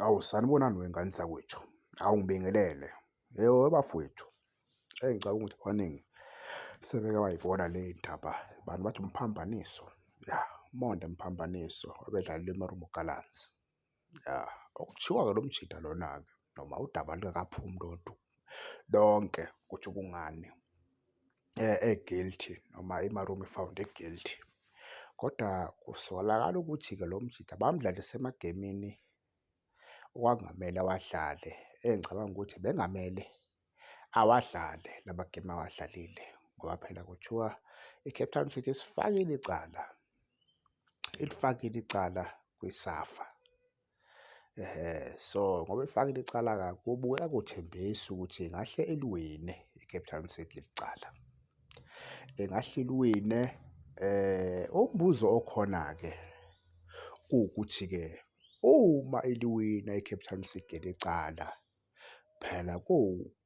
Awu sanibonani wengane zakwethu. Awu ngibingelele. Yebo bafowethu. Hey ngicabanga ukuthi abaningi sebeke bayibona le ndaba. Abantu bathi umphambaniso. Ya, umonde mphambaniso obedlalelwe eMarumo Gallants. Ya, okuthiwa-ke lo mjita lona-ke noma udaba lungakaphumi lontu lonke ukuthi kungani. e-guilty noma i-Marum i-found e-guilty. Kodwa kusolakala ukuthi-ke lo mjita bamdlalise emagemini okwakungamele awadlale, engicabanga ukuthi bengamele awadlale la magemu awadlalile ngoba phela kuthiwa i-Cape Town City isifakile icala, ilifakile icala kwiSafa. Ehhe, so ngoba elifakile icala-ke kubukeka kuthembisa ukuthi ingahle iliwine i-Cape Town City leli cala. Ingahle iliwine umbuzo okhona-ke ukuthi-ke uma iliwina i-Cape Town City leli cala, phela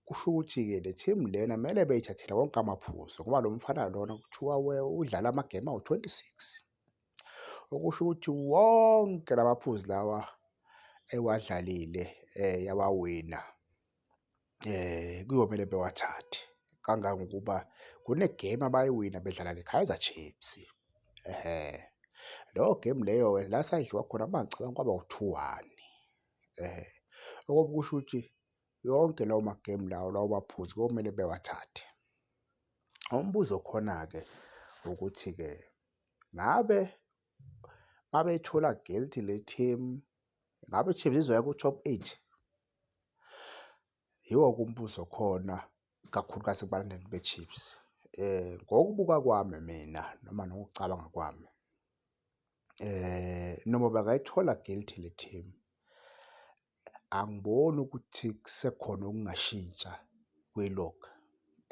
kusho ukuthi-ke le team lena kumele beyithathele wonke amaphuzu ngoba lo mfana lona kuthiwa udlale amagemu awu-twenty-six. okusho ukuthi wonke lamaphuzu lawa ewadlalile eh yawawina eh kuyomele bewathathe kangangokuba kunegame abayiwina bedlala neKaizer Chiefs ehe leyo game leyo la sayidliwa khona mangicabanga kwaba u-two one eh okokusho ukuthi yonke lawo magemu lawo lawo baphuzi komele bewathathe umbuzo khona-ke ukuthi-ke ngabe babeyithola guilty le team ngabe iChiefs izoya ku-top eight yiwo kumbuzo khona kakhulukazi kubalandeli beChiefs eh ngokubuka kwami mina noma nokucabanga kwami eh noma bangayithola guilty le team angiboni ukuthi kusekhona okungashintsha kwi-log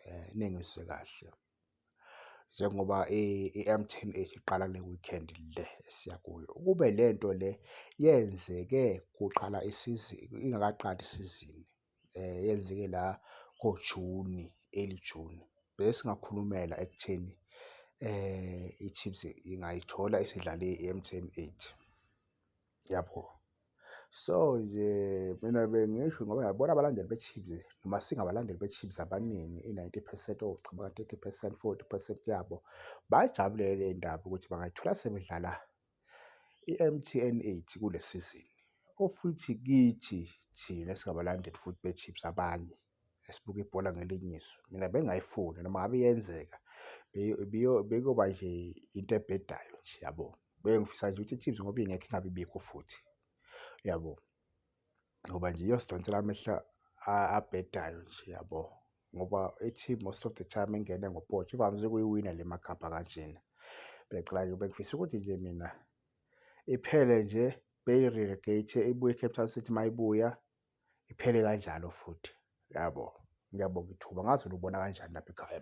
eh nengizwe kahle. njengoba i-M_T_N iqala le weekend le esiya kuyo. Ukube le nto le yenzeke kuqala isizini, ingakaqali isizini yenzeke la ngoJuni, early June, besingakhulumela ekutheni i-Chiefs ingayithola isidlale i-M_T_N eight. yabo so nje mina bengisho ngoba yabona abalandeli be-chiefs noma singabalandeli be-chiefs abaningi i-90 percent owucabanga 30 percent 40 percent yabo bayijabulele le ndaba ukuthi bangayithola sebedlala i-mtn 8 kule sizini ofuthi kithi thina singabalandeli futhi be-chiefs abanye esibuka ibhola ngelinye iso. Mina bengingayifuni noma ngabe iyenzeka bekuyoba nje into ebhedayo nje yabo. Bengifisa nje ukuthi i-Chiefs ngoba ingekho ingabe ibikho futhi yabo. Ngoba nje iyosidonsela amehlo abhedayo nje yabo ngoba i-team most of the time engene ngopotsho ivamise ukuyiwina le makhapha kanjena. Bengicela nje bengifisa ukuthi nje mina iphele nje beyi-relegate ibuye i-Cape Town City uma ibuya iphele kanjalo futhi yabo ngiyabonga ithuba ngazi ulubona kanjani lapha ekhaya.